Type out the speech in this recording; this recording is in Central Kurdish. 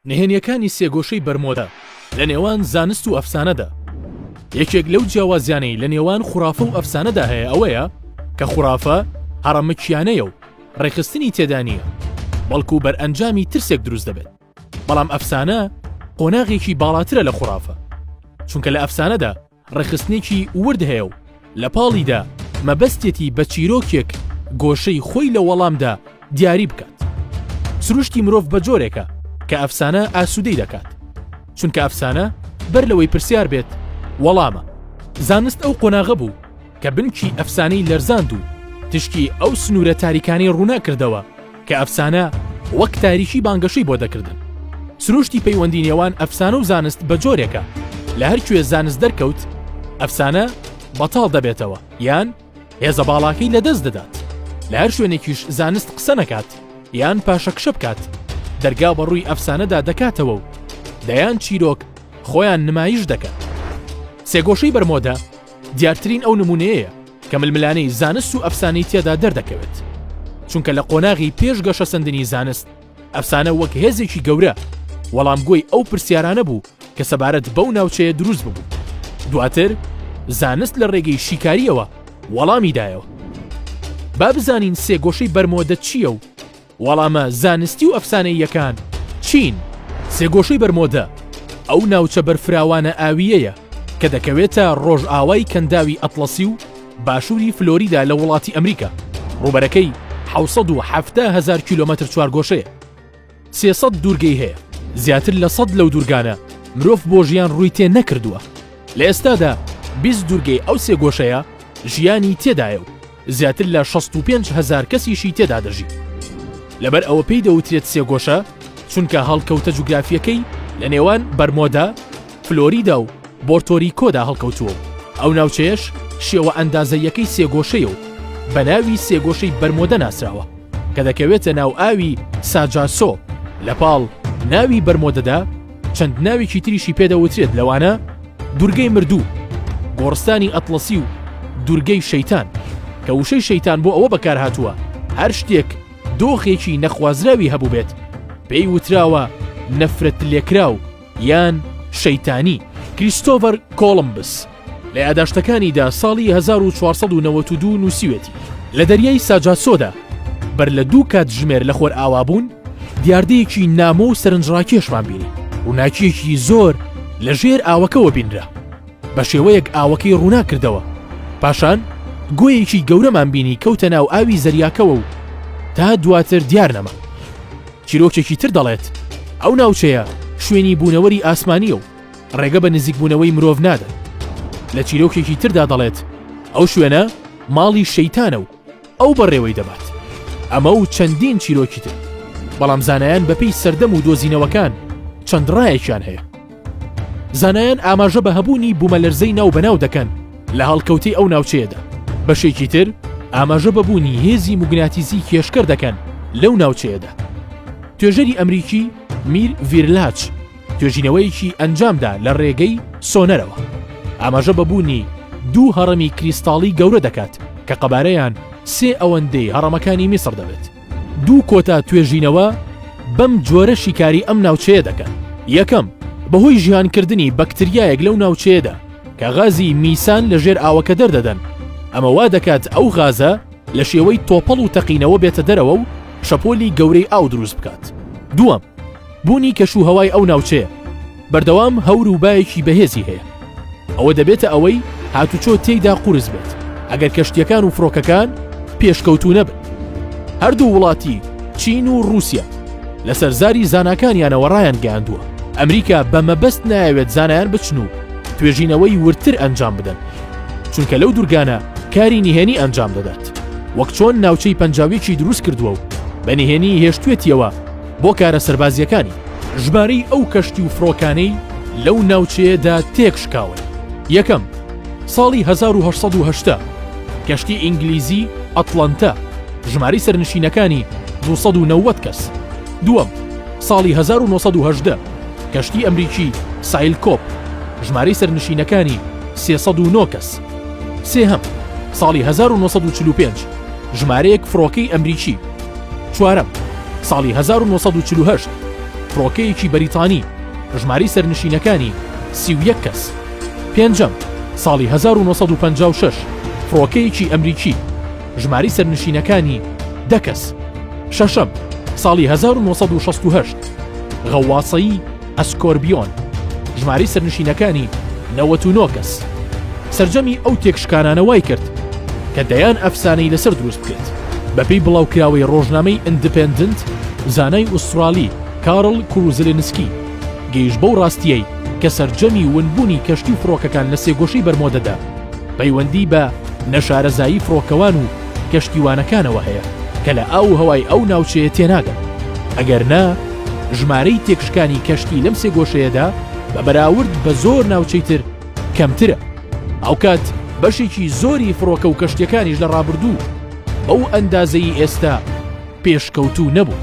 نهێنیەکانی سێگۆشەی بەرمۆدە لە نێوان زانست و ئەفسانەدا یەکێک لەو جیاوازیانەی لە نێوان خوڕافە و ئەفسانەدا هەیە ئەوەیە کە خوڕافە هەڕەمەکیانەیە و ڕێخستنی تێدا نییە بەڵکو بەرئەنجامی ترسێک دروست دەبێت بەڵام ئەفسانە قۆناغێکی باڵاترە لە خوڕافە چونکە لە ئەفسانەدا ڕێکخستنێکی ورد هەیە و لە پاڵیدا مەبەستیەتی بە چیرۆکێک گۆشەی خۆی لە وەڵامدا دیاری بکات. سروشتی مرۆڤ بە جۆرێکە کە ئەفسانە ئاسوودەی دەکات. چونکە ئەفسانە بەر لەوەی پرسیار بێت وەڵامە. زانست ئەو قۆناغە بوو کە بنکی ئەفسانەی لەرزاند و تشکی ئەو سنوورە تاریکانەی ڕووناکردەوە کە ئەفسانە وەک تاریکی بانگەشەی بۆ دەکردن. سروشتی پەیوەندی نێوان ئەفسانە و زانست بە جۆرێکە لە هەر کوێ زانست دەرکەوت ئەفسانە بەتاڵ دەبێتەوە یان هێزە باڵاکەی لەدەست دەدات لە هەر شوێنێکیش زانست قسە نەکات یان پاشەکشە بکات دەرگا بە ڕووی ئەفسانەدا دەکاتەوە و دەیان چیرۆک خۆیان نمایش دەکەن سێگۆشەی بەرمۆدە دیارترین ئەو نمونەیە کە ململانێی زانست و ئەفسانەی تێدا دەردەکەوێت. چونکە لە قۆناغی پێش گەشەسەندنی زانست، ئەفسانە وەک هێزێکی گەورە وەڵامگۆی ئەو پرسیارانە بوو کە سەبارەت بەو ناوچەیە دروست ببوو. دواتر زانست لە ڕێگەی شیکاریەوە وەڵامی دایەوە. با بزانین سێگۆشەی بەرمۆدە چییە و وەڵامە زانستی و ئەفسانەییەکان چین؟ سێگۆشەی بەرمۆدە ئەو ناوچە بەرفراوانە ئاوییەیە کە دەکەوێتە ڕۆژئاوای کەنداوی ئەتڵەسی و باشووری فلۆریدا لە وڵاتی ئەمریکا، ڕووبەرەکەی حەوت سەد و حەفتا هەزار کیلۆمەتر چوارگۆشەیە. سێ سەد دوورگەی هەیە، زیاتر لە سەد لەو دوورگانە مرۆڤ بۆ ژیان ڕووی تێ نەکردووە، لە ئێستادا بیست دوورگەی ئەو سێگۆشەیە ژیانی تێدایە و زیاتر لە شەست و پێنج هەزار کەسیشی تێدا دەژی. لەبەر ئەوە پێی دەوترێت سێگۆشە، چونکە هەڵکەوتە جوگرافییەکەی لە نێوان بەرمۆدا، فلۆریدا و بۆرتۆریکۆدا هەڵکەوتووە و ئەو ناوچەیەش شێوە ئەندازەییەکەی سێگۆشەیە و بە ناوی سێگۆشەی بەرمۆدە ناسراوە کە دەکەوێتە ناو ئاوی ساجاسۆ لە پاڵ ناوی بەرمۆدەدا چەند ناوێکی تریشی پێدەوترێت لەوانە دورگەی مردوو گۆڕستانی ئەتلەسی و دورگەی شەیتان کە وشەی شەیتان بۆ ئەوە بەکارهاتووە هەر شتێک دۆخێکی نەخوازراوی هەبوو بێت پێی وتراوە نەفرەت لێکراو یان شەیتانی کریستۆڤەر کۆڵمبس لە یاداشتەکانیدا ساڵی 1492 نووسیوێتی لە دەریای ساجاسۆدا بەر لە دوو کاتژمێر لە خۆر ئاوابوون دیاردەیەکی نامۆ و سەرنجڕاکێشمان بینی ڕووناکیەکی زۆر لە ژێر ئاوەکەوە بینرا بە شێوەیەک ئاوەکەی ڕوونا کردەوە پاشان گۆیەکی گەورەمان بینی کەوتە ناو ئاوی زەریاکەوە و تا دواتر دیار نەما چیرۆکێکی تر دەڵێت ئەو ناوچەیە شوێنی بوونەوەری ئاسمانیە و ڕێگە بە نزیکبوونەوەی مرۆڤ نادەن. لە چیرۆکێکی تردا دەڵێت ئەو شوێنە ماڵی شەیتانە و ئەو بەڕێوەی دەبات. ئەمە و چەندین چیرۆکی تر. بەڵام زانایان بەپێی سەردەم و دۆزینەوەکان چەند ڕایەکیان هەیە. زانایان ئاماژە بە هەبوونی بوومەلەرزەی ناو بەناو دەکەن لە هەڵکەوتەی ئەو ناوچەیەدا. بەشێکی تر ئاماژە بەبوونی هێزی موگناتیزی کێشکەر دەکەن لەو ناوچەیەدا. توێژەری ئەمریکی میر ڤیرلاچ توێژینەوەیەکی ئەنجامدا لە ڕێگەی سۆنەرەوە ئاماژە بە بوونی دوو هەڕەمی کریستاڵی گەورە دەکات کە قەبارەیان سێ ئەوەندەی هەڕەمەکانی میسر دەبێت دوو کۆتا توێژینەوە بەم جۆرە شیکاری ئەم ناوچەیە دەکەن یەکەم بەهۆی ژیانکردنی بەکتریایەک لەو ناوچەیەدا کە غازی میسان لە ژێر ئاوەکە دەردەدەن ئەمە وا دەکات ئەو غازە لە شێوەی تۆپەڵ و تەقینەوە بێتە دەرەوە و شەپۆلی گەورەی ئاو دروست بکات دووەم بوونی کەش و هەوای ئەو ناوچەیە بەردەوام هەور و بایەکی بەهێزی هەیە ئەوە دەبێتە ئەوەی هاتوچۆ تێیدا قورس بێت ئەگەر کەشتیەکان و فڕۆکەکان پێشکەوتوو نەبن هەردوو وڵاتی چین و رووسیا لەسەر زاری زاناکانیانەوە ڕایان گەیاندووە ئەمریکا بە مەبەست نایەوێت زانایان بچن و توێژینەوەی ورتر ئەنجام بدەن چونکە لەو دوورگانە کاری نهێنی ئەنجام دەدات وەک چۆن ناوچەی پەنجاویەکی دروست کردووە و بە نهێنی هێشتێتیەوە بۆ کارە سەربازییەکانی ژمارەی ئەو کەشتی و فڕۆکانەی لەو ناوچەیەدا تێکشکاون یەکەم ساڵی 1970 کەشتی ئینگلیزی ئەتڵەنتە ژمارەی سەرنشینەکانی 290 کەس دووەم ساڵی 1970 کەشتی ئەمریکی سایل کۆپ ژمارەی سەرنشینەکانی 309 کەس سێهەم ساڵی 1945 ژمارەیەک فڕۆکەی ئەمریکی چوارەم، ساڵی هەزار و نۆ سەد و چل و هەشت، فڕۆکەیەکی بەریتانی، ژمارەی سەرنشینەکانی، سی و یەک کەس. پێنجەم، ساڵی هەزار و نۆ سەد و پەنجا و شەش، فڕۆکەیەکی ئەمریکی، ژمارەی سەرنشینەکانی، دە کەس. شەشەم، ساڵی هەزار و نۆ سەد و شەست و هەشت، غەوواصەیی، ئەسکۆربیۆن ژمارەی سەرنشینەکانی نەوەت و نۆ کەس سرجەمی ئەو تێکشکانانە وای کرد کە دەیان ئەفسانەی لەسەر دروست بکرێت بەپێی بڵاوکراوەی ڕۆژنامەی ئەندپندنت زانای ئوسترالی کارل کوروزلنسکی گەیش بەو ڕاستیەی کە سرجەمی ونبوونی کەشتی و فڕۆکەکان لە سێگۆشەی بەرمۆدەدا پەیوەندی بە نەشارەزایی فڕۆکەوان و کەشتیوانەکانەوە هەیە کە لە ئاو و هەوای ئەو ناوچەیە تێناگەن، ئەگەر نا ژمارەی تێکشکانی کەشتی لەم سێگۆشەیەدا بە بەراورد بە زۆر ناوچەی تر کەمترە، هاوکات بەشێکی زۆری فڕۆکە و کەشتیەکانیش لە ڕابردوو بەو ئەندازەی ئێستا پێشکەوتوو نەبوون.